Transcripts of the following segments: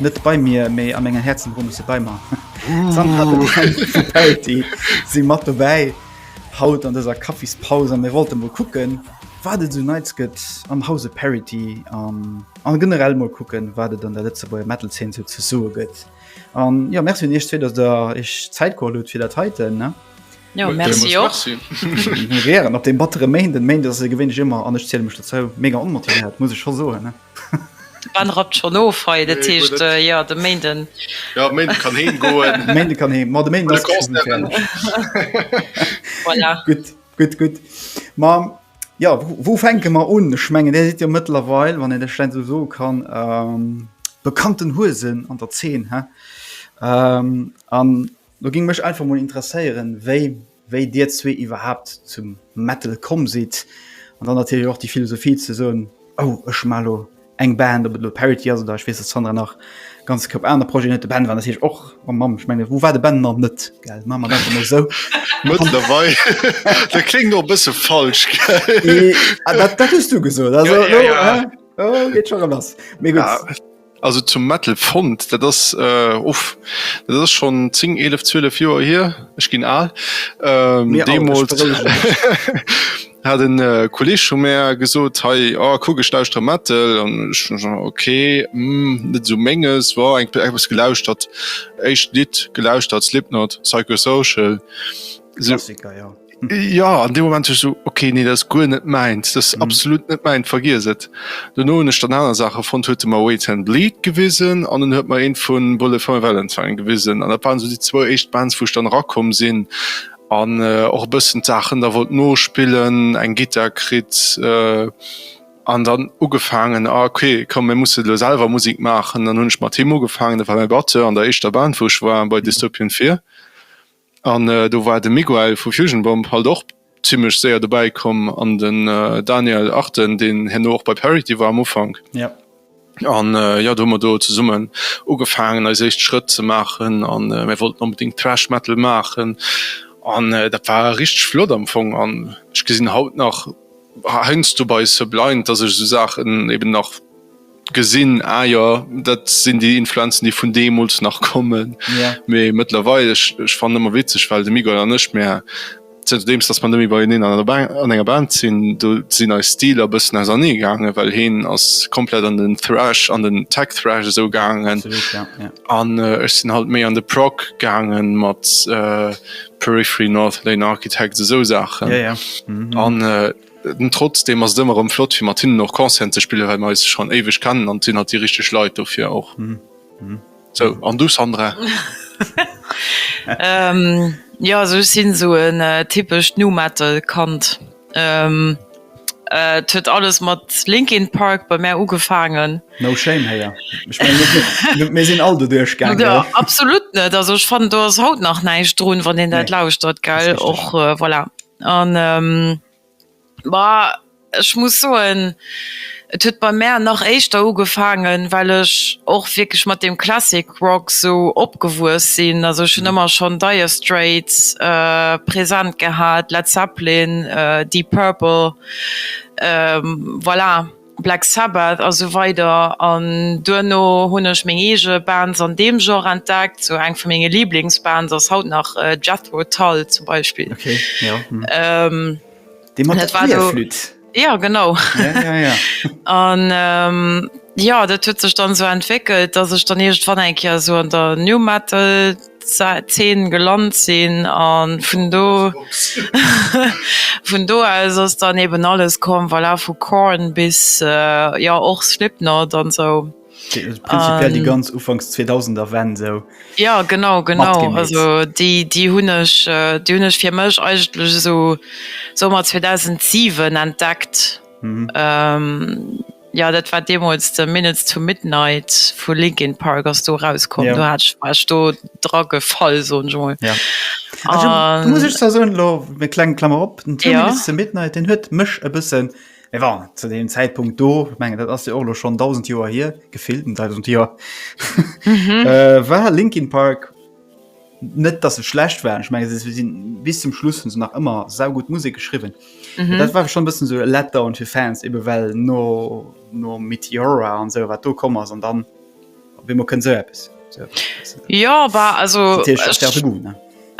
net bei mir méi a menger Herzen run se bei mar si mat dobäi haut an deser Kaffispaus an mir wollte mo kucken wat et du neits gëtt am Hause Parity an an generell mo kucken wat et an der letze beier Metal 10 se ze soe gëtt an ja Merc hun ichchte datt der ech Zäitkohol huet fir dat heiten ne. Jo, merci och. Mir wären op deem battere Méinden, den Méinden ass et jo gewéinlech ëmmer, an ech ziele mech dozou, mega onmotivéiert, muss ech scho soen. Wann rappt schonn of hei, dat heescht, jo, de Méinden. Jo, Méinden kann heem goen. De Méinden kann heem, ma de Méinden ass et scho geféierlech. Gutt, gutt, gutt. Ma jo, wou fänke mer un? Ech mengen, Dir sidd jo mëttlerweil, wann een dat schlecht esou soe kann, bekannten Huesen an der Zeen, he? An Lo ging mech einfach mol interesséieren wei wei dir zwee iwwerhaapt zum Metal komm sidd an dann natierlech och déi Philosophie ze soen oh ech maa lo eng Band op et lo Parity ass oder ech weess dass d'Sandra nach ganz Koup aner Projeten huet. De Ben war natierlech och mam mam ech menge wou war de Ben nach net gell maa mat einfach mol sou Mëttlerweil dat kléngt och e bësse falsch gell? Dat dat hues du gesot also lo geet scho rem lass mee gutt. Also zum Metal Fond, dat ass äh, uff, dat ass schon 10, 11, 12 Joer hier, ech ginn al. Ähm, Mir deemools hat en äh, Kolleg schon mär gesot, hei, oh, kuck, ech lauschter Metal. An ich, okay, mm, net so menges, war eng etwas gelauschtert. Echt Lied gelauschtert, Slipknot, Psychosocial. So, Klassiker, ja. Ja an de moment so okay nee das gu net meint das mhm. absolut net meint vergis et du no ech dann aner Sache von hue ma wait and bleed gewesen an den hört mal een vu Bulle von Valentine gewesen an der waren so die zwei echt Bands wo dann rakom sinn an äh, och bëssen Sachen da wollt no spillen eng Gitterkrit äh, an dann ugefangen ah, okay kom mir muss lo selber Musik machen dann hunn ich mal Thema gefangen war mein Batte an der echtter Band woch war bei Dystopien 4 An do war de Miguel vu Fusion Bomb halt och zimmlech séier dobäi komm an den Daniel Arden, deen herno och bei Parity war am Ufank. An jo, do hu mer do zesummen ugefaangen eis éischt Schrëtt ze maachen a mir wollten onbedéngt Thrash Metal maachen an dat war richteg flott am Fong. An ech gesinn haut nach heiansdo bei Sublind, dass ech esou Saachen eben nach. gesinn, ah jo, dat sinn déi Influenzen, déi vun deemools nach kommen. Ja. Mee mëttlerweil, ech, ech fannen ëmmer witzeg, well de Miguel an ech, mär, zënterdeems dass mer net méi beieneen an der Band, an enger Band sinn, do sinn eis Stiler e bëssen ausernee gaangen, well heen ass komplett an den Thrash, an den Tech-Thrash esou gaangen. Absolut, ja, ja. An äh, ech sinn halt méi an de Prog gaangen mat äh, Periphery, North Lane Architects, esou Saachen. Ja, ja. Mhm. An äh, Trotzdem ass et ëmmer rëm flott fir mat hinnen och Concerten ze spillen, well mer eis schonn éiweg kennen an et sinn halt déi richteg Leit dofir och. Sou, an du Sandra? Jo, also ech sinn esou en typescht Nu-Metal-Kand. Et huet alles mat Linkin Park bei mär ugefaangen. No shame héi, ech mengen mir sinn all do duerchgaangen, oder? Jo, absolut net, also ech fannen do ass haut nach näischt drun, wann een dat lauschtert, gell? Och voilà. An ma ech muss soen, et huet bei mär nach éischter ugefaangen, well ech och wierklech mat deem Classic Rock sou opgewuess sinn. Also ech hunn ëmmer schonn Dire Straits present gehat, Led Zeppelin, Deep Purple, voilà. Black Sabbath a sou weider an duerno hunn ech meng eege Bands an deem Genre entdeckt. Sou eng vu menge Liblingsbands ass haut nach Jethro Tull zum Beispill. Okay, ja. Déi mat der Querflütt. Ja, genau. Ja, ja, ja. An ja, dat huet sech dann sou entwéckelt, dass ech dann iergendwann eng Kéier sou an der New Metal. Zeen gelant sinn an vun do vun do aus ass dann eben alles komm voilà vu Korn bis jo och Slipknot an sou prinzipiell déi ganz ufanks 2000er Wänn sou jo genau genau also déi déi hunn ech déi hunn ech fir mech eigentlech esou sou mat 2007 entdeckt. Jo, dat war deemools de Minutes to Midnight vu Linkin Park ass do erauskomm. Do hat ech, war ech do dra gefall, soen ech emol. An muss ech zwar soen, elo eng kleng Klammer op, den Two Minutes to Midnight, deen huet mech e bëssen, et war zu deem Zäitpunkt do, ech mengen dat ass jo och elo schonn dausend Joer hier, gefillt, dausend Joer, war Linkin Park, net dass se schlecht waren ich mein, sind bis zum Schluss hun se nach immer sau gut Musik geschrieben mhm. dat war schon bisschen so letter und für Fans eben well no no Meteora an so wat du kom an dann wie man können so etwas so, so. ja war also ich,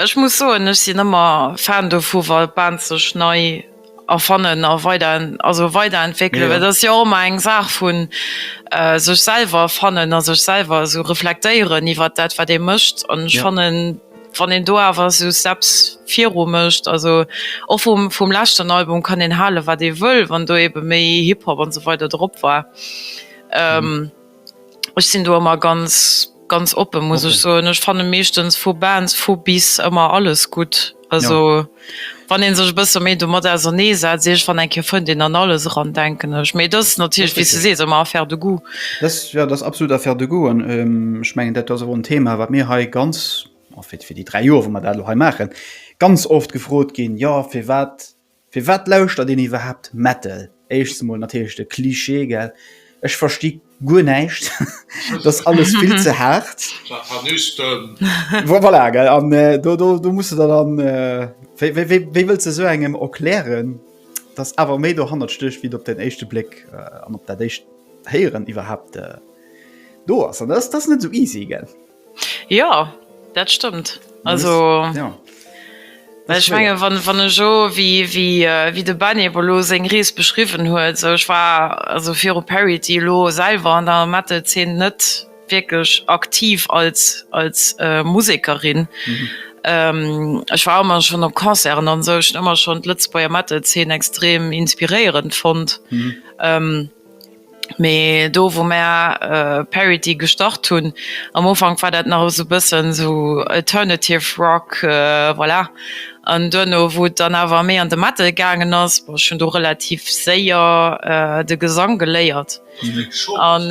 ich muss so ich sind immer Fan vu weil ban ze schnei erfannen a weider, also weiderentwéckelen, well dat ass jo och ëmmer eng Saach vu sech selwer fannen a sech selwer esou reflektéieren iwwert dat, wat ee mécht. An ech fannen, wann een do awer esou Steps viru mécht, also och vum, vum leschten Album kann een hale wat ee wëll, wann do eebe méi Hip-Hop an esou weider drop war, Ech sinn do ëmmer ganz, ganz oppe muss ech soen. Ech fanne meeschtens vu Bands vu bis ëmmer alles gutt. Also wann ee sech e bësse méi domat ausernee setzt, iech wann eng Kéier fënnt een an alles eran, denken ech. Mee dat ass natierlech, wéi s de sees, ëmmer Affaire de goût. Dat ass, jo, dat ass absolut Affaire de goût. An ech mengen, dat ass och en Thema, wat mir hei ganz, fir déi dräi Joer wou mer dat elo hei maachen, ganz oft gefrot ginn, jo firwat Firwat lauschtert een iwwerhaapt Metal? Éischst mol natierlech de Cliché, gell? Ech versti guer näischt, et ass alles vill ze haart. Satanisten! Voilà, gell? An do muss de der dann, wéi wëlls de esou engem erklären, dass awer méi dohannert stécht, wéi et op den éischte Bléck an op dat éischt Héieren iwwerhaapt do ass? An dat ass net esou easy, gell? Jo, dat stëmmt. Also ech menge wann ech jo wéi de Benie bo lo seng Rees beschriwwen huet, sou ech war also viru Parity elo selwer an der Metal-Zeen net wierklech aktiv als Musekerin. Ech war ëmmer schonn op Concerten an esou, ech hunn ëmmer schonn d'Lëtzebuerger Metal-Zeen extrem inspiréierend fonnt. Mee do wou mär Parity gestart hunn, am Ufank war dat nach esou e bëssen esou alternative rock, voilà. An duerno wou et dann awer méi an de Metal gaangen ass, bon ech hunn do relativ séier de Gesang geléiert an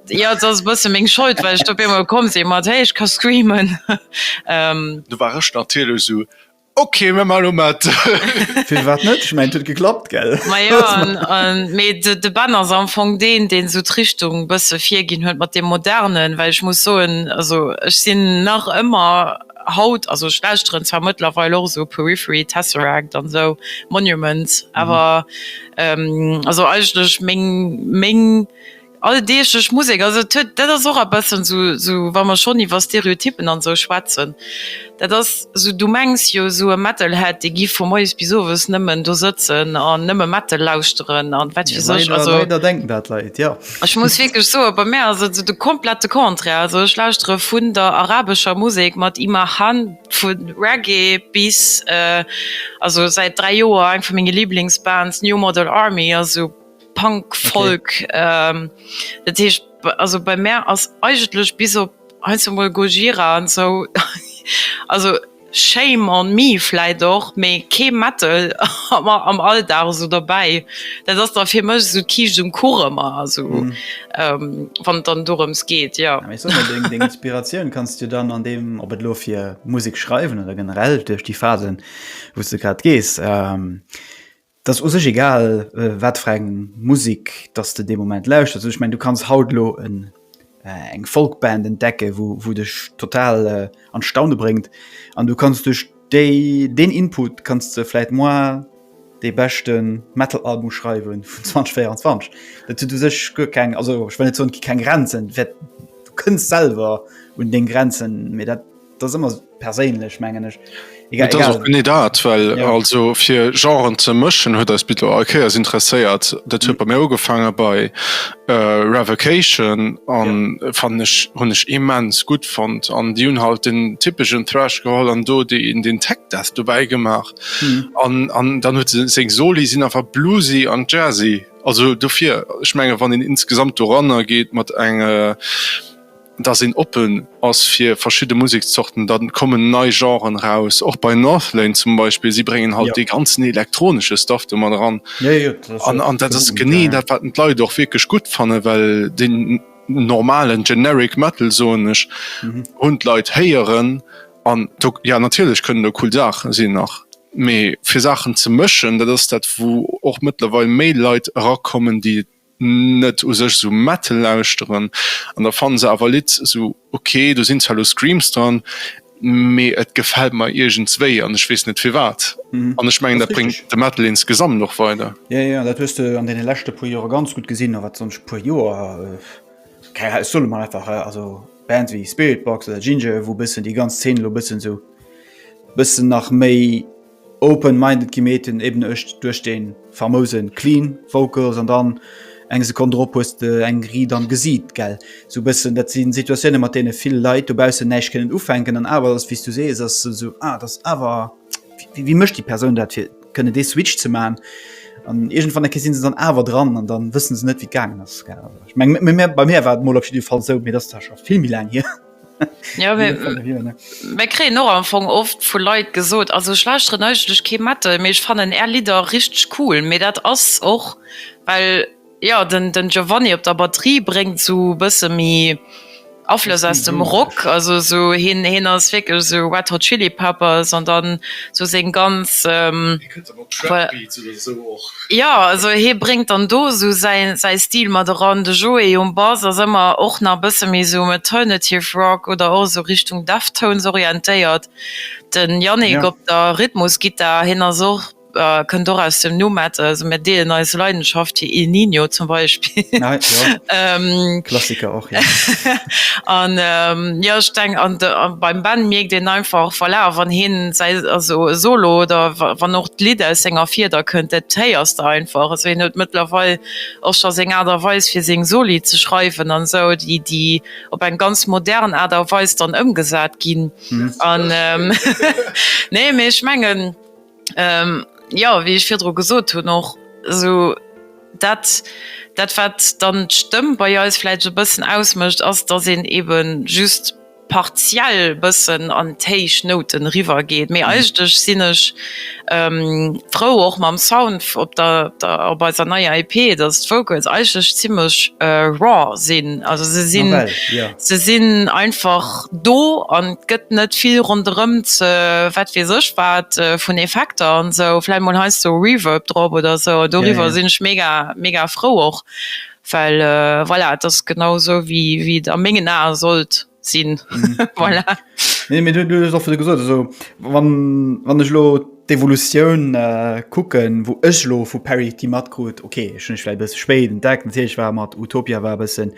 jo et ass e bësse meng Schold well ech do op eemol komm si mat hey ech ka screamen. Okay, mir mal mat. Fir wat net? Ech mengt huet geklappt gell. Ma jo an an mee de de Ben ass am Fong deen deen esou d'Richtung e bësse virginn huet mat deem Modernen, well ech muss soen also ech sinn nach ëmmer haut also ech lauschteren zwar mëttlerweil och esou Periphery, Tesseract an esou Monuments awer also eigentlech meng meng Alldeeglech Musek, also et huet, dat ass och e bëssen esou, esou wa mer schonn iwwer Stereotyppen an esou schwätzen, dat ass esou, du mengs jo esou e Metalhead, dee giff vu moies bis owes nëmmen do sëtzen an nëmme Metal lauschteren an wat weess ech. Also ech muss wierklech soen, bei mär ass et esou de komplette Contraire, also ech lauschtere vun der arabescher Musek mat Imahan, vu Reggae bis, also säit dräi Joer eng vu menge Liblingsbands, New Model Army, also. Punk, Folk, dat heescht also bei mär ass eigentlech bis op heiansdo emol Gojira an esou, also shame on me vläit och, mee kee Metal am Alldag esou derbäi. Dat ass da fir mech esou d'Kiischt um Kuch ëmmer, also wann et dann dorëms geet, jo. Mee sot mol, deng Inspiratioun kanns du dann an deem, ob et elo fir Musek schreiwen oder generell duerch déi Phasen, wou s de grad gees, 't ass u sech egal wat fir eng Musek dass de dee Moment lauschters, ech mengen du kanns haut elo en eng Folkband entdecke wou wou dech total an d'Staune bréngt an du kanns duerch déi deen Input kanns de vläit moar dee beschte Metalalbum schreiwe vun 2024. Dat huet u sech guer keng, also ech wëll net soen, keng Grenzen, du kënns selwer un deng Grenzen, mee dat. das immer perséinlech mengen ech ne dat well ja. also fir genren ze mëschen huet als bitte okay as interesséiert dat hue mhm. bei mir ugefangen bei äh, revocation an ja. fan ech hun ech immens gut fand an die hun halt den typischen thrash geholl an do die in den tech das du beigemacht mhm. an mhm. an dann hue se soli sinn einfach bluesy an jazzy also dofir ich menge wann den insgesamt doranner geht mat enge äh, dass een oppen ass fir verschidde Musekszorten, da kommen nei Genren raus, och bei Northlane zum Beispill, si bréngen halt dee ganzen elektronesche Stuff do mat eran an dat ass genee dat, wat d'Leit och wierklech gutt fanne well den normalen generic Metal, soen ech, hunn d'Leit héieren an do, jo natierlech kënnen do cool Saache sinn nach, mee fir Saachen ze mëschen, dat ass dat, wou och mëttlerweil méi Leit erakommen, déi net u sech esou Metal lauschteren an da fannen se awer Lidd esou ok, do sinn zwar elo Screams dran mee et gefält mer iergendswéi an ech weess net firwat an ech mengen dat bréngt de Metal insgesamt och weider. Jo jo dat hues de an deene leschte puer Joere ganz gutt gesinn a wat soss puer Joer keng Ahnung ech soe lo mol einfach also Bands wéi Spiritbox oder Jinjer wou bëssen déi ganz Zeen elo bëssen esou bëssen nach méi Open minded gi meet den eben ech duerch den famousen clean vocals an dann eng Sekonn drop hues de eng Ried am Gesiit gell sou bessen. Dat sinn Situatiounen mat deene vill Leit dobaussen näischt kënnen ufänken an awer ass wéi s du sees ass se sou ah dat ass awer wéi wéi mécht déi Persoun dat fir kënnen dee Switch ze man an iergendwann eng Kéier sinn se dann awer dran an dann wëssen se net wéi et gaangen ass gell. Ech meng bei mär war et mol op jiddefalls sou mee dat ass da scho vill méi laang hier. Ja, mir, mir kriegen noch am Anfang oft von Leuten gesagt, also ich lauschteren eigentlich kein Metal, mir ich fanden er Lieder richtig cool, mir das ass och weil ja den, den Giovanni op der Batterie bringt so bisschen mi Aflöss aus dem Rock, also so hin, hin ass wirklich so Red Hot Chili Peppers und dann so sing ganz ähm, Jo, also hie bréngt dann do esou säin, säi Stil mat eran. De Joé um Bass ass ëmmer och nach e bësse méi esou um Alternative Rock oder och esou Richtung Deftones orientéiert. De Yannick op der Rhythmusgittar, hien ass och, kënnt och aus dem Nu Metal, also mir deelen eis Leidenschaft fir Il Niño zum Beispill. Klassiker. an jo ech denken an de beim Ben mierkt een einfach voilà wann hien säi also e Solo oder wann och d'Lidd aus senger Fieder kënnt, dat héiers de einfach. Also hien huet mëttlerweil och scho seng Aart a Weis fir seng Soli ze schreiwen an esou, déi déi op eng ganz modern Aart a Weis dann ëmgesat ginn an nee mee ech mengen. Jo, wéi ech virdru gesot hunn, och esou dat, dat wat dann d'Stëmm bei eis vläicht e bëssen ausmécht, ass, datt een ebe just partiell e bëssen an d'héich Nouten eriwwergeet. Mee eigentlech sinn ech frou och mam Sound op der, op eiser neier EP, datt d'Vocals eigentlech zimmlech raw sinn. Also se sinn, se sinn einfach. do an et gëtt net vill ronderëm ze wat weess ech wat vun Effekter an esou, vläicht mol heiansdo Reverb drop oder esou an doriwwer sinn ech mega mega frou och, well voilà et ass genau esou wéi wéi et a mengen Ae sollt sinn voilà. Nee mee du hues och virdru gesot esou wann wann ech elo d'Evolutioun kucken, wou ech elo vu Parity matkrut, okay ech hunn ech vläicht e bësse spéit entdeckt natierlech war mat Utopia war e bëssen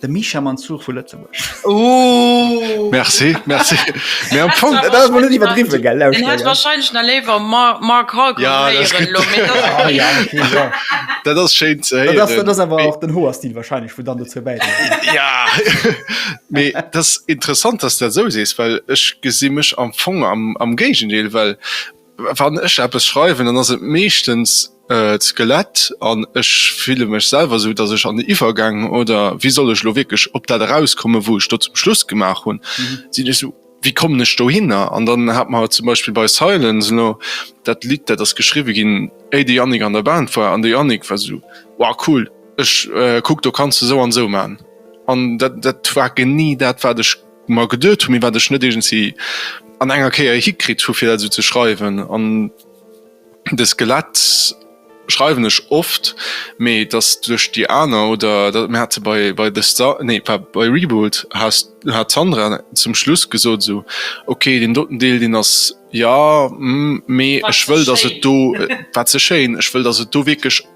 De Misha Mansour vu Lëtzebuerg. Oh! Merci, merci. Mä am Fong, dat ass mol net iwwerdriwwen, gell? Lauscht mol, gell. Wahrscheinlech nach léiwer Mark Halperin héieren elo. Ah ja, okay, jo. Dat ass schéin ze héieren. Dat ass awer och den Hoerstil wahrscheinlech, wou dann dozou bäidréit. Jo, mä dat ass interessant, dass du dat esou sees, well ech gesi mech am Fong am Géigendeel, well. Wann ech eppes schreiwen, dann ass et meeschtens d'Skelett an ech fille mech selwer esou, datt ech an de Iwwergäng oder wéi soll ech elo wierklech op dat erauskommen, wou ech do zum Schluss gemaach hunn, sinn ech esou, wéi kommen ech dohinner? An dann hat mer zum Beispill bei Silence elo dat Lidd, dat ass geschriwwe ginn, éi de Yannick an der Band war an de Yannick war esou, wow cool, ech kuck do kanns de esou an esou man. An dat war genee dat wat ech. mer geduet hu mee wat ech net iergendsi an enger Kéier hikritt hu fir dat esou ze schreiwen. An de Skelett schreiwen ech oft, mee dass duerch déi aner oder da mir hate bei bei The Sta nee pa bei Reboot has hat d'Sandra zum Schluss gesot esou, okay deen doten Deel deen ass jo mee ech wëll dass et do wat ze schéin ech wëll dass et do wierklech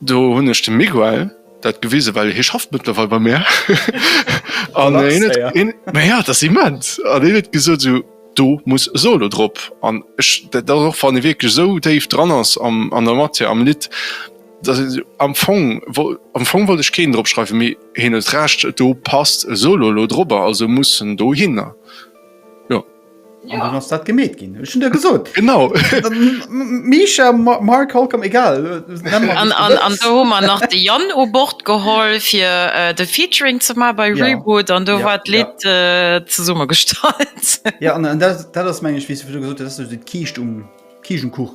Do hunn ech dem Miguel dat gewisen, well hie schafft mëttlerweil bei mär an hien huet, mä jo, dat ass immens, an hien huet gesot esou, do muss e Solo drop an ech, dat ass och wann ee wierklech esou déif dran ass an der Matière, am Lidd, dass een esou, am Fong, am Fong wollt ech keen drop schreiwen, mee hien huet Recht, do passt e Solo elo drop, also muss en dohinner, jo. An dann ass dat gemeet ginn. Ech hunn der gesot. Genau. Misha, Mark Holcomb, egal. An do hu mer nach de Yann u Bord geholl, fir de Featuring ze maachen bei Reboot. An do war d'Lidd zesummegestallt. Ja, an dat ass, meng ech, wéi s de virdru gesot hues, dat ass esou de Kiischt um Kiischenkuch.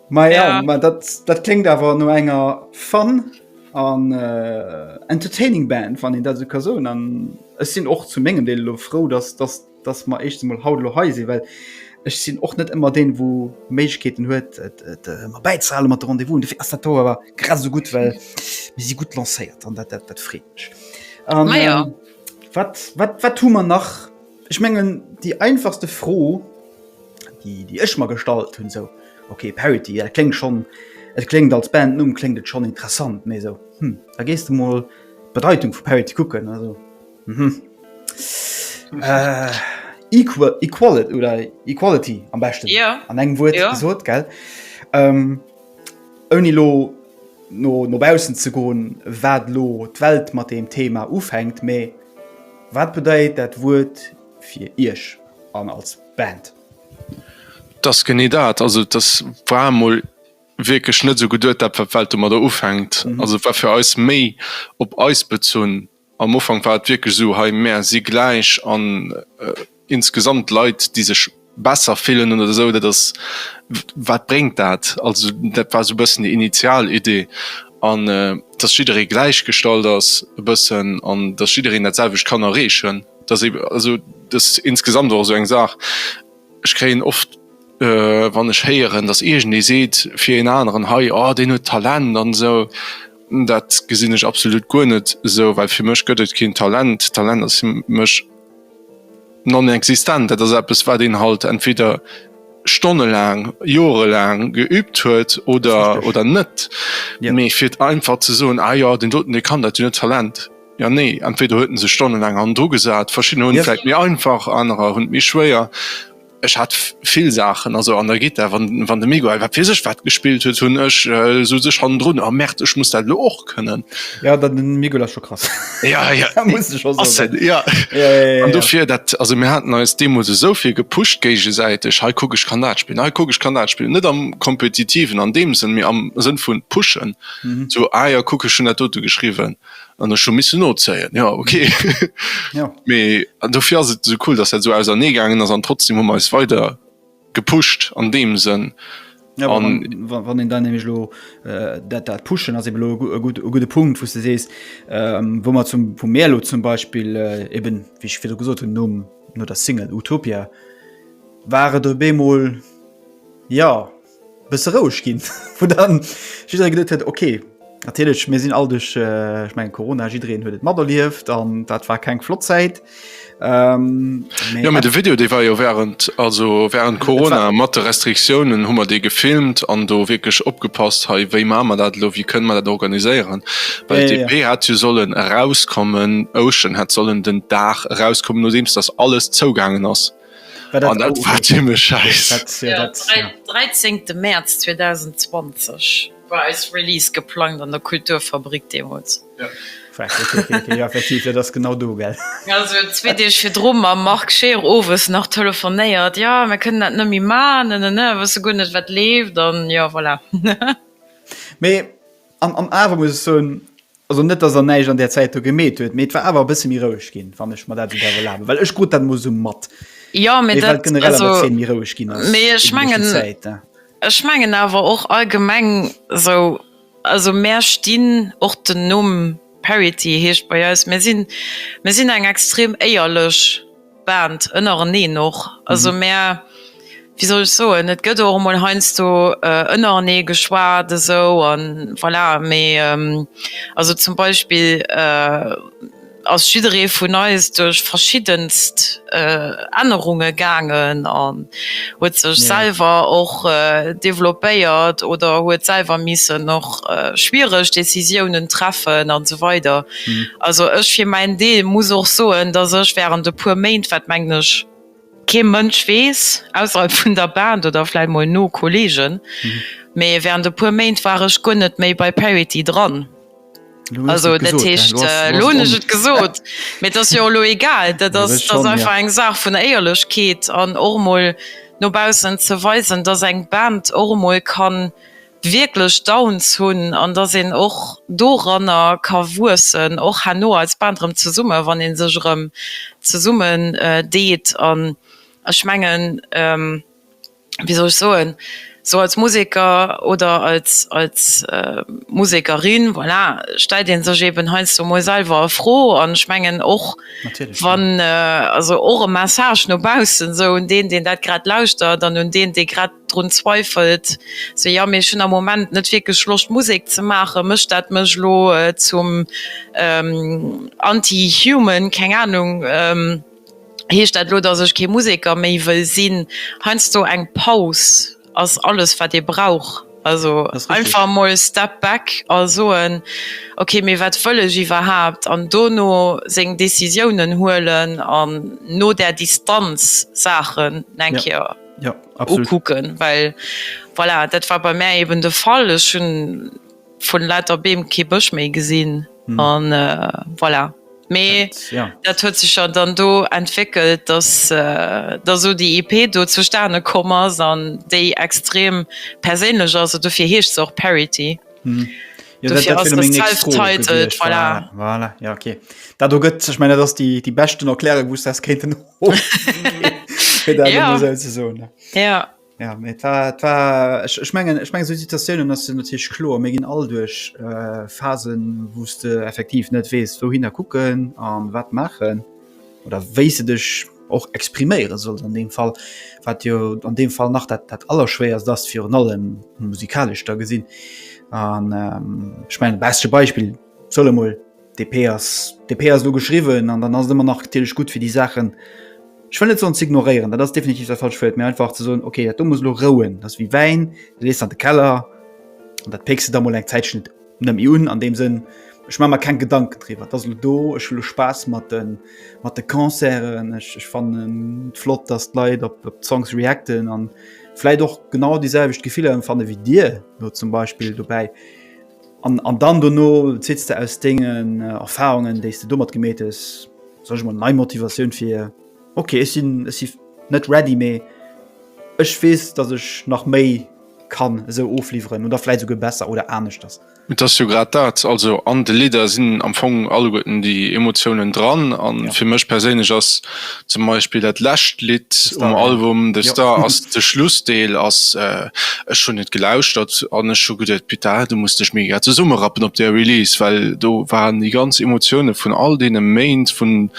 Ma ja, ja. Ma dat, dat klingt awer no enger Fan an äh, entertaining Band wann den dat se ka so an es sinn och zu mengen Deel lo froh dass das das ma echt mal haut lo heise well ech sinn och net immer den wo Mechkeeten huet äh, ma beizahlen mat rendezvous de erster Tour war grad so gut well wie sie gut lancéiert an dat dat, dat freet mech an ah, ja. ähm, wat wat wat tu man nach ich mengen die einfachste froh déi déi ech mer gestallt hunn sou okay Parity dat kléngt schonn et kléngt als Bandnumm kléngt et schonn interessant mee sou hm da gees de mol d'Bedeitung vu Parity kucken also mhm equal equal oder equality am beschten ja an engem Wuert ja. gesot gell ähm, ouni lo no no bausen ze goen wat lo d'Welt mat deem Thema ufänkt mee wat bedeit dat Wuert fir Iech an als Band? Dass genee dat, also dass war mol wierklech net esou geduet dat wat d'Welt domadder ufänkt, also war fir eis méi op eis bezunn. Am Ufank war et wierklech esou, hei mär si gläich an insgesamt Leit déi sech. besser fillen oder esou, dat ass wat bréngt dat? Also dat war esou e bëssen déi initial Idee an datt jidderee gläichgestallt ass e bëssen an datt jiddereen dat selwecht kann erreechen, datt ee also datt insgesamt och esou eng Saach. Ech kréien oft wann ech héieren, datt iergendee seet fir een aneren, hei oh deen huet Talent an esou, dat gesinn ech absolut guer net esou, well fir mech gëtt et keen Talent. Talent ass fir mech. Non-existent. Dat ass eppes, wat een halt entweder stonnelaang, joerelaang geübt huet oder, oder net. Mee fir et einfach ze soen, Ah jo, deen doten, dee kann dat jo net, Talent. Jo, nee, entweder huet en sech stonnelaang hannendru gesat, verschiddener hunn et vläicht méi einfach, anerer hunn et méi schwéier. Ech hat vill Saachen, also an der Gittar, wann wann de Miguel wat weess ech wat gespillt huet, hunn ech sou sech hannendrun, oh Merde, ech muss dat elo och kënnen. Ja, dat den Miguel ass scho krass. Ja, ja, dat muss ech och soen. Ass en, ja. Ja, ja, ja. An dofir dat, also mir haten eis deemools esou vill gepusht géigesäiteg, hei kuck ech kann dat spillen, hei kuck ech kann dat spillen, net am Kompetitiven an deem Sënn, mee am Sënn vu pushen, sou ah ja kuck ech hunn dat dote geschriwwen, an ech hu missen nozéien, jo ok jo mee an dofir ass et esou cool dass dat esou ausernee gaangen ass an trotzdem hu mer eis weider gepusht an deem Sënn. Ja, an wann, wann en dann nämlich lo äh, dat, dat pushen ass eben lo e gut, e gute Punkt wo du sees ähm, wo man zum vu Meerlo zum Beispiel äh, eben wie ich wieder gesot hun nom no der Single Utopia ware do Bemol ja Bësse roueg ginn, wou dann jidderee geduet huet, okay, natierlech, mir sinn all duerch, äh, ech mengen Corona, jiddereen huet et materlieft an dat war keng flott Zäit. Ähm, mee Ja, mee de Video, dee war jo während, also während war- Corona, mat de Restriktiounen hu mer dee gefilmt an do wierklech opgepasst, hei, wéi maache mer dat elo, wéi kënne mer dat organiséieren? Well Ja, ja, ja. d'EP hätt jo sollen erauskommen, Ocean hätt sollen den Dag erauskommen, nodeems datt alles zougaangen ass. An dat war zimmlech scheiss. Ja, den 13 Mäerz 2020 war eis Release geplangt an der Kulturfabrik deemools. Fuck, ok, ok, ok, jo effektiv, dat ass genau do, gell? Also zwee Deeg virdru mam Marc Scheer owes nach telefonéiert, jo mir kënnen dat net méi maachen, ne, ne, ne, wësse guer net wat leeft an jo voilà. Mee. An, an awer muss ech soen, also net, dass Der näischt an där Zäit do gemeet huet, mee et war awer e bësse méi roueg ginn, wann ech mer dat esou däerf erlaben, well ech krut dat emol esou mat, Jo, mee well dat, generell an der also, Zeen méi roueg ginn ass mee ech iwwert déi leschten mengen, Zäit, hein. ech mengen awer och allgemeng esou, also mär stinn, och den Numm Parity heescht bei eis, mär sinn, mär sinn eng extrem éierlech. Band ënnereneen och. Also mär, wéi soll ech soen, et gëtt och emol heiansdo ënnerenee geschwat esou a voilà. Mee also zum Beispill ass jidderee vun eis duerch verschiddenst Ännerunge gaangen an huet sech selwer och developpéiert oder huet selwer missen och schwiereg Decisiounen treffen an esou weider. Also ech fir mäin Deel muss och soen, datt ech während e puer Méint, wat mengen ech kee Mënsch weess, ausserhalb vun der Band oder vläit mol no Kollegen, mee während e puer Méint war ech guer net méi bei Parity dran. Also dat heescht, elo hunn ech et gesot, mee et ass jo elo egal, dat ass einfach eng Saach vun Éierlechkeet an och emol no baussen ze weisen, datt eng Band och emol kann wierklech Downs hunn an dass een och doranner ka wuessen, och herno als Band erëm zesummen, wann ee sech erëm zesummen deet. An ech mengen, wéi soll ech soen, esou als Museker oder als Musekerin, voilà, stellt ee sech eeben heiansdo emol selwer e Fro an ech mengen och wann, also och e Message no baussen, esou un deen, deen dat grad lauschtert an un deen, dee grad drun zweifelt se ja mee ech hun am Moment net wierklech Loscht Musek ze maachen, mécht dat mech elo zum anti human? Keng Ahnung, heescht dat elo dass ech kee Museker méi wëll sinn? Heiansdo eng Paus ass alles wat ee brauch, also einfach emol step back a soen ok mee wat wëll ech iwwerhaapt an dono seng Decisiounen huelen an no där Distanz Saachen eng Kéier. ja, kucken weil voilà, dat war bei mir eben de Fall ist schon von lauter Beem ke Bësch méi gesinn hm. an äh, voilà Me ja. dat huet sech ja dann do entwickelt, dass äh, da so die EP do zu Sterne kommers an déi extrem perélech also dofir heescht och Parity. Hm. Dat do gëtt zech meiner dats déi déi beschten erkläre wouss ass kéinten Ech mengen ech meng Situatiounen ass den Tisch klo mé ginn all duerch Phasen wouste effektiv net weess wou hinner kucken an wat machen. oder wéi se dech och expriméiere sollt an deem Fall, wat jo an deem Fall nach dat dat allerschwéierst ass virun allem musikalesch da gesinn. An ähm, ech mein beschte Beispill solle mol DP ass DP ass lo geschriwwen an dann ass ëmmer nach natierlech gut fir déi Saachen ech wëll net soen ze ignorieren, dat ass definitiv dat falscht Wuert, mä einfach ze soen okay dat do muss lo rouen, dat ass wéi Wäin, dee lees an de Keller an dat péckst de da mol eng Zäitchen net Nëmm mi un, an deem Sënn, ech maache mer keng Gedanken driwwer. Et ass elo do, ech hu lo Spaass mat de Concerten, ech fannen et flott, datt d'Leit op d'Songs reacten a vläicht och genau déi selwecht Gefiller ëmfanne wéi dir elo zum Beispill dobäi. An dann dono zitt's de aus dengen Erfarungen, déi s de domat gemeet hues, soll ech emol nei Motivatioun fir, ok, ech sinn net ready, mee ech weess, datt ech nach méi. kann esou ofliwweren oder vläit souguer besser oder aneschters. Et ass jo grad dat, also an de Lidder sinn am Fong alleguerten déi Emotiounen dran a Ja. fir mech perséinlech ass zum Beispill dat lescht Lidd The Star, um ja. Album The Jo. Star ass de Schlussdeel ass, ech hunn et gelauschtert an ech hu geduet, Petaah, du muss dech mega zesummerappen op där Release, well do waren déi ganz Emotioune vun all deene Méint, vun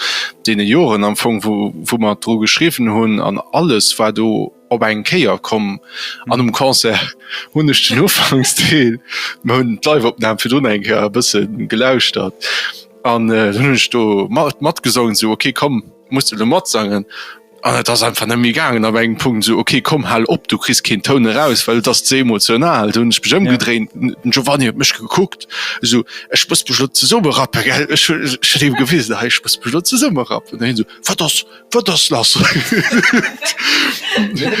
deene Joren am Fong, wou wou mer dru geschriwwen hunn an alles war do op eng Kéier komm an um Concert hunn ech den Ufanksdeel, mer hunn d'Live-Opnam virdrun eng Kéier e bësse gelauschtert an dann hunn ech do mat matgesongen, esou ok komm muss de elo matsangen an et ass einfach net méi gaangen ab engem Punkt, esou ok komm hal op, du kriss keen Toun eraus, well et ass ze emotional. Dunn hunn ech mech ëmgedréint, den Giovanni huet mech gekuckt, esou ech muss mech elo zesummerappe gell, ech hunn ech hunn him gewisen, hei ech muss mech elo zesummerappen an hien esou wat ass Wat ass lass?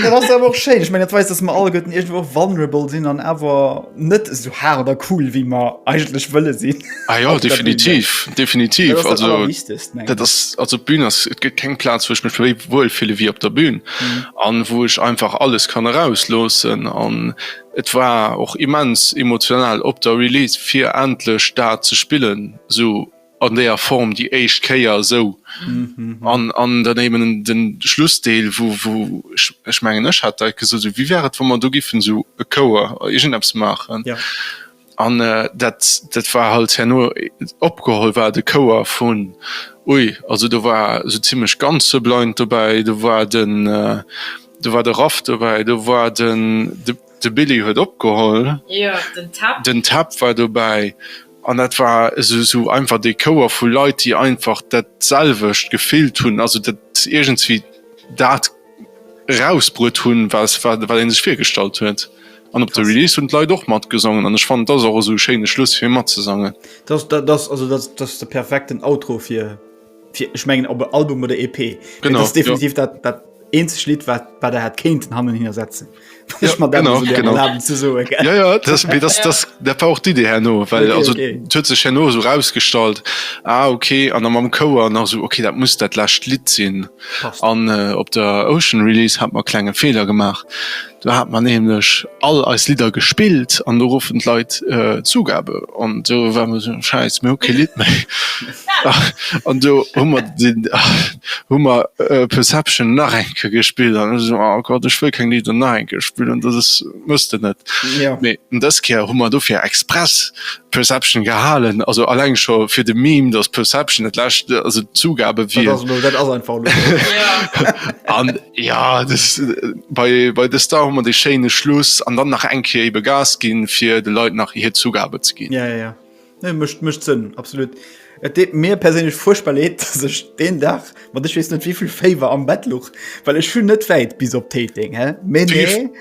Dat ass awer och schéin. Ech meng dat weist, dass mer all Gëtten iergendwo och vulnerable sinn an awer net esou hart oder cool, wéi mer eigentlech wëlle sinn. Ah jo, definitiv, definitiv. Dat ass dat Also, Allerwichtegst, mengen dat ech. ass, also d'Bühn ass, et gëtt keng Plaz, wou ech mech méi wuel fille wéi op der Bühn an wou ech einfach alles kann erausloossen. An et war och immens emotional op der Release, fir endlech dat ze spillen, esou an deeër Form déi éischt Kéier esou an dann eben den Schlussdeel wou ech mengen ech hat deit gesot esou wéi wär et wa mer do giffen esou e Chouer irgend eppes maachen an dat dat war halt herno opgeholl war de Chouer vun ui also do war esou zimlech ganz Sublind dobäi do war den do war de Raff dobäi do war den De Billy huet opgeholl, den Tab war dobäi an dat war esou einfach dee Chouer vu Leit, déi einfach dat selwecht gefillt hunn, also iergendswéi dat erausbruet hunn, wat ee sech virgestallt huet. An op der Release hunn d'Leit och matgesongen an ech fannen, dat ass och esou e schéine Schluss fir matzesangen. Dat ass de perfekten Outro fir. Ech mengen op e Album oder EP ass definitiv dat dat eenzeg Lidd wat wat der hat kéinten hannen hin ersetzen. Ech mat Genau ze so. Dat war och Di Dir herno well also huet sech herno sou rausgestallt ah okay an am am Kouer nach sou okay dat muss dat läscht Lidd sinn an op der Ocean Release hat mer klenge Feeler gemaach. Do hat mer nämlech all eis Lidder gespillt an do goufen d'Leit Zugabe an do war mer esou, Schäiss, mir hu kee Lidd méi. An do hu mer den, hu mer Perception nach eng Kéier gespillt an ech esou, oh Gott, ech wëll keng Lidder nach eng Kéier spillen, dat ass, muss de net. Mee dës Kéier hu mer dofir express Perception gehalen, also alleng scho fir de Meme, dass Perception dat lescht, also d'Zugabe wier. Dat ass elo, dat ass einfach elo esou. Ja des bei bei de Star man de Schéine Schluss an dann nach enke ebe Gas ginn fir de Leiit nach hir Zugabe ze ginn. Ja, ja, ja. Nee, mecht mecht Sënn absolut. Et deet mir perséinlech fuerchtbar leed, dass ech deen Dag mat ech weess net wéivill Féiwer am Bett luch, well ech vun net wäit bis op Téiteng, hä? Mee nee.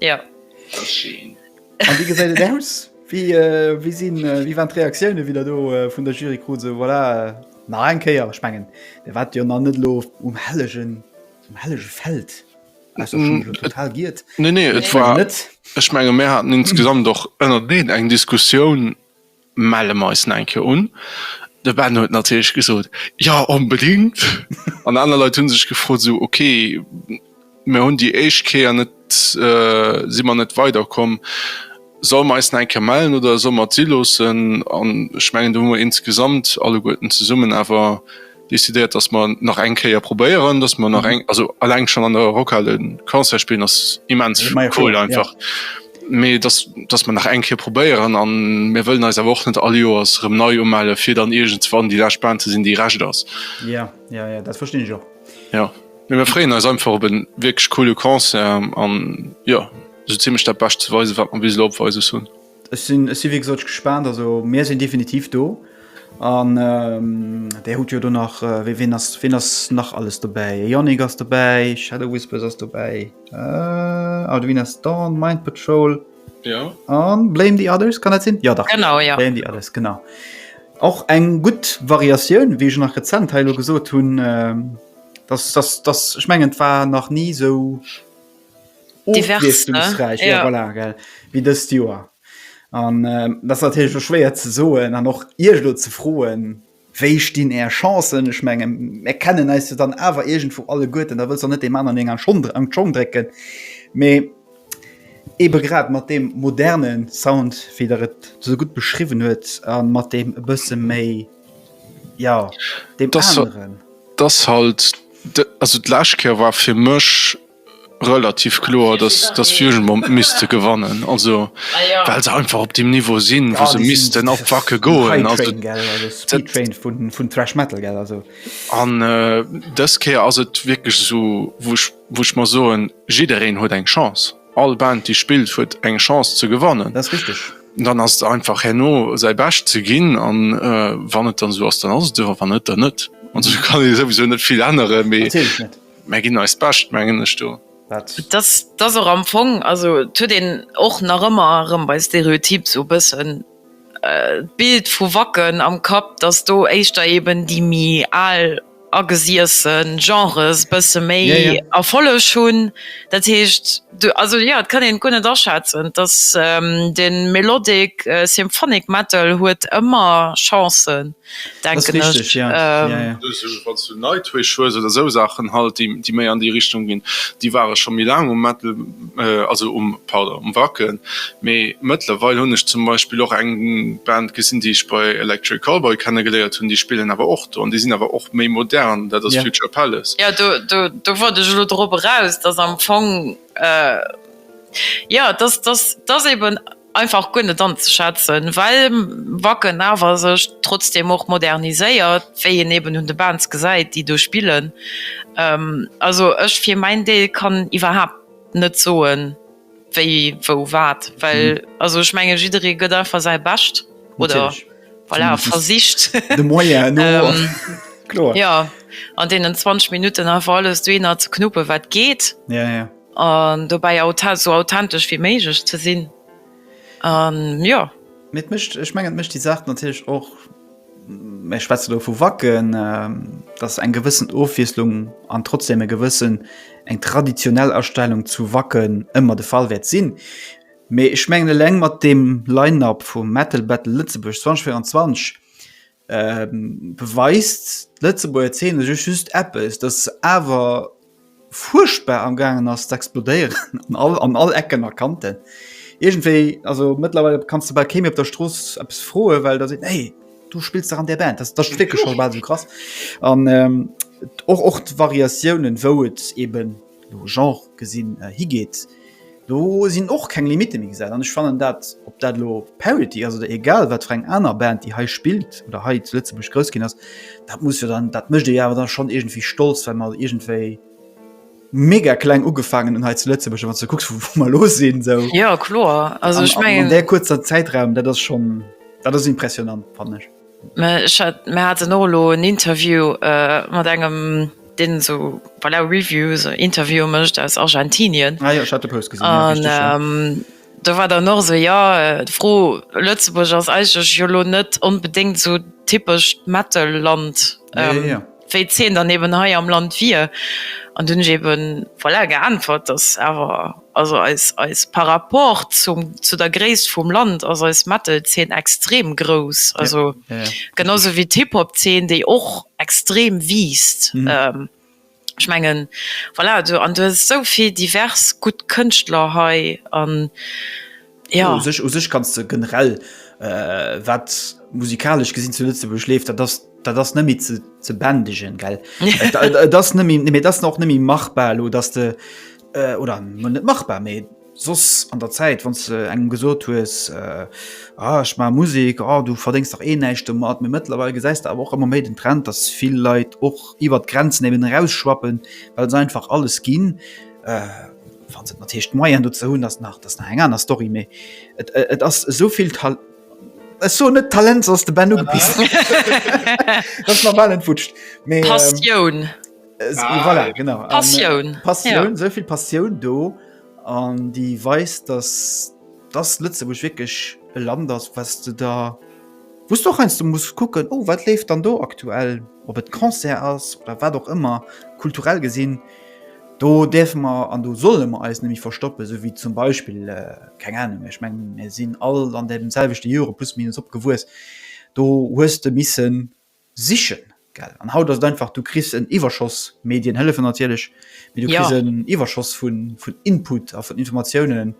Ja. Das ist schön. An wie gesäit et aus? Wie, äh, wie, sinn, äh, wie waren d'Reaktioune wieder do äh, vun der Jury kru se voilà, äh, nach eng Kéier spengen. Der wat jo an net lo um hellegen um hellege Feld mm, total giet. Nee, nee, et war net. Ech menge mé hat insgesamt och ënner deen eng Diskussioun melle mer eis no eng Kéier un. De Ben huet natierlech gesot, Jo, onbedéngt! An aner Leit hu sech gefrot, esou, Ok, mir hunn déi éischt Kéier net, si mer net weider komm, solle mer eis no eng Kéier mellen oder solle mer et si loossen? An ech mengen, do hu mer insgesamt alleguerten zesummen awer. Decidéiert, dass mer nach eng Kéier probéieren, dass mer nach eng, also alleng schon an der Rockhal e Concert spillen ass immens cool einfach, mee dass dass mer nach eng Kéier probéieren a mir wëllen eis awer och net all Joers erëm nei umelle fir dann iergendswann déi lescht Band ze sinn, déi Recht ass. Jo, jo, jo, dat verstinn ech och. Jo, mee mir freeën eis einfach op e wierklech coole Concert an jo, esou zimmlech dat Bescht ze weisen, wat mer bis elo op Weises hunn. Ech sinn ech si wéi gesot gespaant. Also mir sinn definitiv do an Där hutt jo do nach wéi ween ass ween ass nach alles dobäi? E Yannick ass dobäi, Shadow Whispers ass dobäi, Arduin ass Dawn, Mind Patrol an Blame the Others, kann dat sinn? Jo dach Blame the Others genau. Och eng gutt Variatioun wéi ech nach rezent hei elo gesot hunn, datt datt datt ech mengen et war nach ni esou Ofwiesslungsräich, ja voilà, gell, wéi dëst Joer. An dat ass natierlech elo schwéier ze soen an och Iech elo ze froen, wéi stinn Är Chancen. Ech menge mir kennen eis jo dann awer iergendwou alleguerten, da wëlls der net deem aneren eng an Schong, an d'Schong drécken. Mee eebe grad mat deem moderne Sound, wéi Der et esou gutt beschriwwen huet a mat deem e bësse méi, jo, deem aneren. Dat ass halt, also d'lescht Kéier war fir mech. relativ kloer dass dass Fusion Bomb misste gewannen also well se einfach op dem Niveau sinn wou se missten op wacke goen also vun thrash metal gell also an äh, dës Kéier ass et wierklech esou wouch wouch mer soen jiddereen huet eng Chance all Band déi spillt huet eng Chance ze gewannen das richtig dann ass et einfach herno säi bescht ze ginn an äh, wann et dann esou ass dann ass et esou a wann net dann net also kann ee souwisou net vill ännere mee. Mär ginn eis Bescht, mengen ech do. Et ass och am Fong, also et huet een och nach ëmmer erëm bei Stereotyp esou e bëssen d'Bild vu Wacken am Kapp, datt do éischter eeben déi méi al agesiesse Genres e bësse méi Erfolleg hunn. Dat heescht. Also jo, et kann een et guer net aschätzen, dass den Melodic Symphonic Metal huet ëmmer Chancen, denken ech. Ass richteg, jo. Wanns du Nightwish hues oder esou Saachen halt, déi méi an déi Richtung ginn, déi ware scho méi laang um Metal, also um, pardon, um Wacken. Mee mëttlerweil hunn ech zum Beispill och eng Band gesinn, déi ech bei Electric Callboy kennegeléiert hunn, déi spillen awer och An déi sinn awer och méi modern, dat ass Future Palace. Jo, do wollt ech elo drop eraus, dass am Fong, jo, dat ass eben einfach guer net anzeschätzen, well Wacken awer sech trotzdeem och moderniséiert, wéi een eben un de Bands gesäit, déi do spillen. Also ech fir mäin Deel kann iwwerhaapt net soen, Wéi, wou, wat? Well also ech menge jidderee gëtt einfach säi Bescht oder voilà, versicht de Moyen no kloer, jo an deenen 20 Minutten einfach alles dohinner ze knuppe wat geet an dobäi esou authentesch wéi méiglech ze sinn an jo. Mee et mécht, ech mengen et mécht déi Saach natierlech och. Ech schwätze do vu Wacken, ähm, dass eng gewëssen Ofwieslung an trotzdem e gewëssen eng traditionell Erstellung zu Wacken ëmmer de Fall wäert sinn. Mee ech mengen eleng mat dem Line-Up vum Metal Battle Lëtzebuerg 2024 ähm beweist d'Lëtzebuerger Zeene sech just eppes, dass se awer, fuerchtbar amgaangen ass ze explodéieren an all an all Ecken a Kanten. Iergendwéi, also mëttlerweile kanns de bal kee méi op der Strooss eppes froen, well da seet en, hey, du spills dach an där Band, dat ass wierklech scho bal esou krass. An och och d'Variatiounen, wou et eeben elo Genre gesinn, higeet, Do sinn och keng Limitte méi gesat an ech fannen dat, ob dat elo Parity ass oder egal wat fir eng aner Band, déi hei spillt oder hei zu Lëtzebuerg grouss ginn ass, dat muss jo dann, dat mécht ee jo awer dann schonn iergendwéi stolz, well mer iergendwéi mega kleng ugefaangen hunn hei zu Lëtzebuerg, wann s de kucks, wou mer elo sinn. Esou. Jo, kloer. Also, ech mengen. An där kuerzer Zäitraum, dat ass schonn, dat ass impressionant, fannen ech. Mä ech hat, mer haten och elo en Interview mat engem, deen esou, voilà, Reviews, Interviewen mécht aus Argentinien. Ah jo, ech hat de Post gesinn, jo, richteg, jo. An do war dann och esou, jo, d'Fro, Lëtzebuerg ass eigentlech jo elo net onbedéngt esou typesch d'Metal-Land, wéi d'Zeen dann eben hei am Land wier. An dunn hunn ech eben, voilà, geäntwert, datt awer, Also eis par rapport zu der Gréisst vum Land ass eis Metal-Zeen extrem grouss, also genau sou wéi d'Hip-Hop-Zeen, déi och extrem wiisst. Ech mengen, voilà, an du hues esou vill divers gutt Kënschtler hei. ja. u sech u sech kannst du generell äh, wat musikalisch gesinn zu Lützeburg lebt dat das dat das nemmi ze ze bändigen gell äh, das nemmi mir das noch nemmi machbar lo dass de äh, oder net machbar me sos an der Zeit wann ze engem gesot hues äh, ah, ich ma Musik oh, du verdingst doch eh näischchte mat mir mittlerweile geseist aber auch immer méi den Trend dass viel Leiit och iwwer Grenzen eben rausschwappen weil se einfach alles ginn äh, Falls et natirlech d'Moyen dozou hunn, ass nach ass nach eng aner Story, mee et et ass esou vill Tal ech soen net Talent, soss ass de Ben ugepisst. Dat ass mer bal entwutscht, mee Passioun. Voilà, genau. Passioun. Passioun, esou vill Passioun do an déi weist, datt datt Lëtzebuerg wierklech e Land ass, wat de der wou s de och heiansdo muss kucken, oh wat leeft dann do aktuell, ob et Concert ass oder wat och ëmmer, kulturell gesinn. Do däerfe mer an do solle mer eis nemme verstoppen, sou wéi zum Beispill, keng Ahnung, ech mengen mir sinn all an deem selwechte Jore plus minus opgewuess, do hues de misse sichen, gell. An haut ass et einfach, du kriss en Iwwerschoss, d'Medien hëllefen natierlech, mee du kriss en Iwwerschoss vun Input a vun Informatiounen.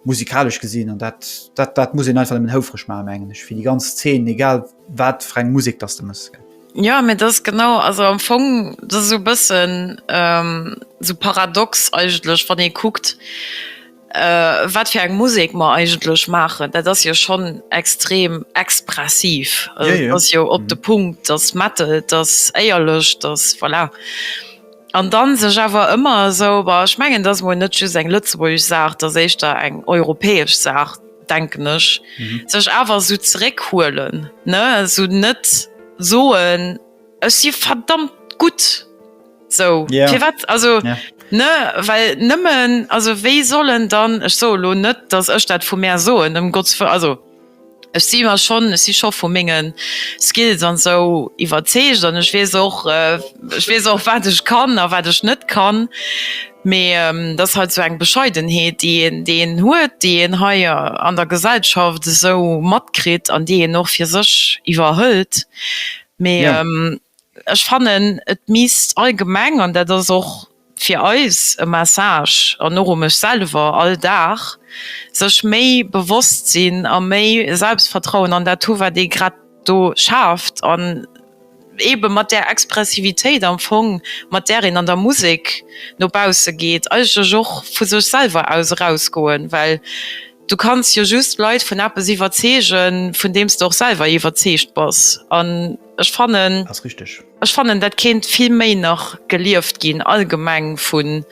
musikalesch gesinn an dat dat dat muss en einfach en houfreg ma mengen ech fir die ganz Zeen egal wat freng Musik dass de muss gin. Ja mir das genau also am Fong das so bëssen ähm, so paradox eigentlech wann ee kuckt äh, wat fir eng Musek mer eigentlech maachen. Dat ass jo schonn extrem expressiv yeah, yeah. ass jo op mm. de Punkt, ass Metal, ass éierlech, ass voilà. An dann sech awer ëmmer esou, Bah, ech mengen, et ass emol net just eng lëtzebuergesch Saach, et ass éischter eng europäesch Saach, denken ech. Sech awer esou zeréckhuelen, ne? Esou net soen, Ech si verdammt gutt esou. Firwat? Also, ne? Well nëmmen, also wéi sollen dann, ech soe lo net, datt ech dat vu mär soen, ëm Gotts Wëll, also. Ech si mer schonn, ech si scho vu menge Skills an esou iwwerzeegt an ech weess och, ech weess och wat ech kann a wat ech net kann. Mee dat ass halt esou eng Bescheidenheet déi een, déi een huet, déi een hei an der Gesellschaft esou matkritt an déi een och fir sech iwwerhëlt. Mee Ech fannen, et misst allgemeng, an dat ass och fir eis e Message an och u mech selwer all Dag, sech méi bewosst sinn a méi Selbstvertrauen an dat hu wat ee grad do schaaft an eebe mat där Expressivitéit am Fong mat där een an der Musek no bausse geet eigentlech och vu sech selwer aus erausgoen, well Du kanns jo just Leit vun eppes iwwerzeegen, vun deem s de och selwer iwwerzeegt bass. An ech fannen. Ass richteg. Ech fannen, dat kéint vill méi nach gelieft ginn allgemeng vun,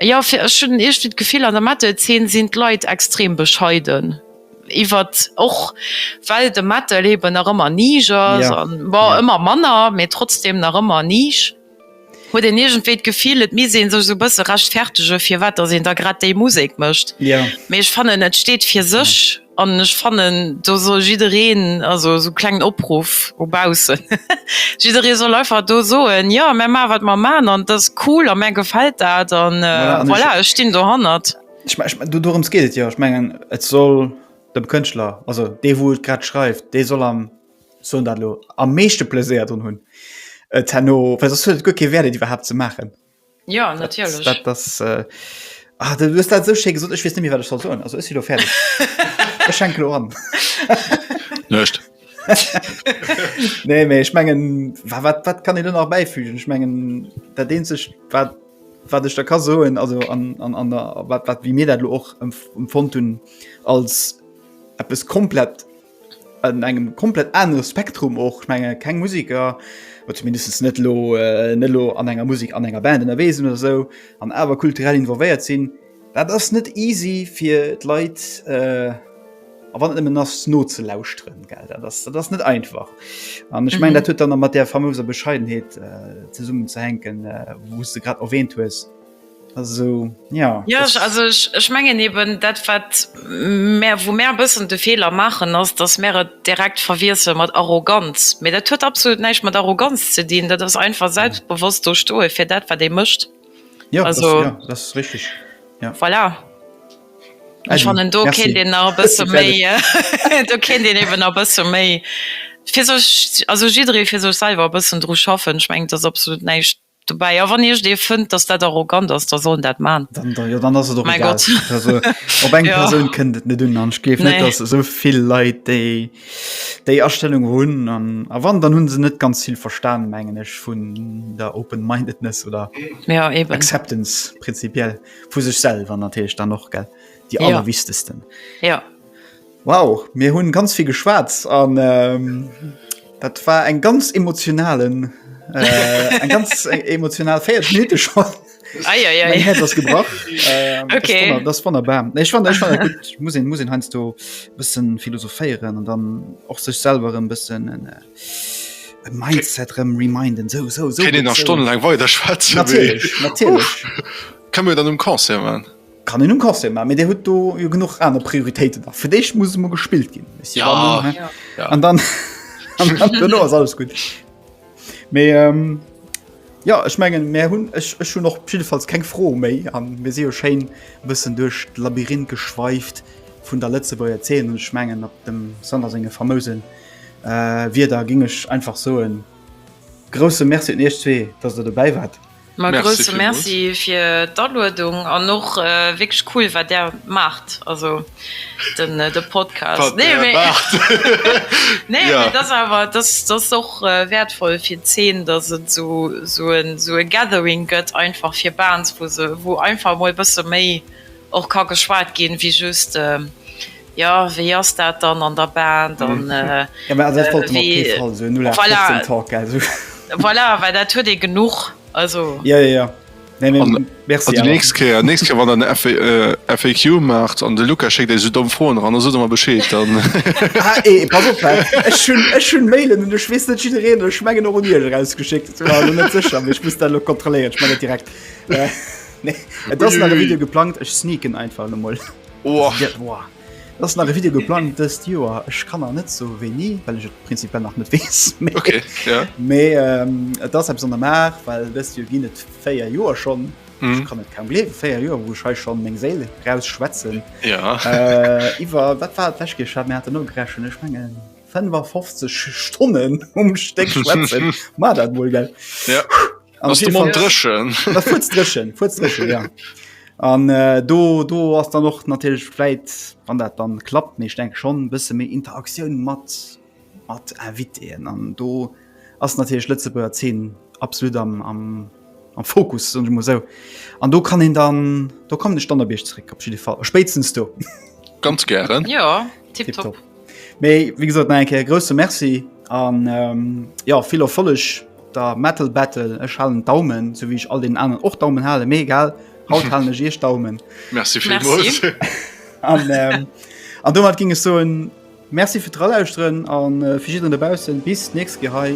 jo, fir, ech hunn iergwéi d'Gefill, an der Metal-Zeen sinn d'Leit extrem bescheiden iwwert, och well de Metal eben nach ëmmer Nisch ass, bon, ëmmer manner, mee trotzdem nach ëmmer Nisch. Huet een iergendwéi d'Gefill, et misst ee sech esou e bësse rechtfertege firwat datt een da grad déi Musek mécht. Mee ech fannen, et steet fir sech an ech fannen, do soll jiddereen, also esou klengen Opruff u baussen, jidderee soll einfach do soen, jo mär maache wat mer maachen an et ass cool a mär gefält dat a voilà, ech stinn dohannert. Ech mengen, dorëms geet et jo. Ech mengen, et soll dem Kënschtler, also dee wou et grad schreift, dee soll am so dat lo am meeschte Pläséier dun hunn et äh, herno well sos huet et guer kee Wäert et iwwerhaapt ze maachen. Ja natierlech. Dat, dat, dat, äh, ah, du hues dat sou schéi gesot, ech weess net méi wat ech soll soen. Also ech si lo fäerdeg. ech schenke lo an. Nëscht. nee méi ech mengen wa wat wat kann ee do nach bäifügen? Ech mengen dat eenzegt wat wat ech da ka soen also an an an der wat wat wéi mir dat lo och emf empfonnt hunn als eppes komplett an engem komplett anere Spektrum och. Ech menge keng Musiker oder zumindest net lo äh, net lo an enger Musik an enger Band ënnerwee sinn oder sou an awer kulturell involvéiert sinn. Dat ass net easy fir d'Leit äh, a wann et nëmmen ass nozelauschteren, gell. Dat ass, dat ass net einfach. An ech meng, dat huet dann nach mat där famouser Bescheidenheet äh, zesummen ze hänken, äh, wou s de grad erwähnt hues. Also, ja, ja ech, also ech, ech mengen eben dat wat mär wou mär bëssen de Feeler maachen ass, datt mär et direkt verwiessele mat Arroganz. Mee dat huet absolut näischt mat Arroganz ze dinn, dat ass einfach mhm. selbstbewosst do stoe fir dat wat dee mëscht. Ja, also, das, ja, das ist richtig. Ja. Voilà. Ech fannnen do ken Di a bësse méi do ken Dien iwwen a bësse méi. Fir sech also jidderee fir sech selwer bëssen dru schaffen, schmengt ass absolut näischt dobäi a wann iech dee fënnt dass dat arrogant ass da soll en dat maan dann dann jo dann ass et och egal also op eng persoun ja. kënnt et net un an ech gleef nee. net dass esou vill leit déi déi astellung hunn an a wann dann hunn se net ganz vill verstan mengen ech vun der open mindedness oder ja, eben. acceptance prinzipiell vu sech selwer natilch dann och gell die ja. allerwichtegsten ja Wow, mir hunn ganz vill geschwat an ähm, dat war eng ganz emotionalen äh, eng ganz e-, emotional Féiert Minute schon. Mein Herz ass gebrach ähm, okay. das, das wunderbar ich fand, ich fand gut ich muss ihn, muss ihn heinz du bisschen philosophieren und dann auch sich selber ein bisschen ein, äh, ein mindset rem reminden so so so, so. stundenlang weiter schwarz natürlich, natürlich. können wir dann im um concert machen Kann een um Concert man, mee Dir hutt do jo genuch aner Prioritéiten nach. Fir d'éischt muss emol gespillt ginn. Ech si Ja. dann, Ja. Ja. an dann an dann duerno ass alles gutt. Mee ähm, ja, ech mengen mär hunn ech ech hunn och jiddefalls keng Fro méi an mir si jo schéin e bëssen duerch d'Labyrinth geschweift vun der Lëtzebuerger Zeen. Ech mengen op dem Sander senge famousen äh, Wierder géing ech einfach soen, grousse Merci un Iech zwee, datt Der dobäi waart. Ma grousse Merci fir d'Aluedung an och wierklech cool wat Där maacht, also de Podcast. Nee mee dat ass awer, dat ass och wäertvoll fir d'Zeen, datt et esou e Gathering gëtt einfach fir Bands, wou einfach emol e bësse méi och ka geschwat ginn, wéi just Jo, wéi ass dat dann an der Band? An voilà, well dat huet ee genuch. Nächst Kéier wann der FAQ maacht an de Luka schéckt iech esou domm Froen eran, da sot der mer Bescheed. Ech hunn Mailen un, ech weess net, jiddereen, ech mengen och un iech, erausgeschéckt. Ech war net sécher, mee ech muss dat elo kontrolléieren. Ech man dat direkt. Et ass nach e Video geplangt, ech sneaken einfach emol. Ass nach e Video geplant dëst Joer. Ech kann nach net sou wéi ni, well ech et prinzipiell nach net weess. Mee et ass eppes an der Maach, well dëst Joer ginn et véier Joer schonn. Ech kann et kaum gleewen, véier Joer, wou ech hei schonn meng Séil eraus schwätzen. Iwwer, wat war et d'lescht Kéier? Ech hat, mir haten nogerechent, ech mengen 55 Stonnen um Stéck schwätzen, war dat wuel, gell? Ass de Mond drëchen? Ass fuerz drëchen, fuerz drëchen, ja. An äh, do, do ass dann och natierlech fläit wann dat dann klappt méch denk schon bësse méi Interaktioun mat mat Invitéen an do ass natierlech Lëtzebuerger 10 absolut am, am, am Fokus und muss so. An do kann en dann do kommen de Standardbierg zréck op Fall spéitstens do. Ganz gären. Ja. Tipptopp. Mee wie gesot eng Kéier grousse Merci an ähm, ja vill Erfolleg der Metal Battle ech halen Daumen, sou wéi ech all den anen och Daumen hale mé egal haut halen ech iech Daumen. Merci vielmals. Merci. An ähm, an domat ging es so en Merci fir d'Relauschteren an äh, fir jidderen dobaussen bis nächst Gehei.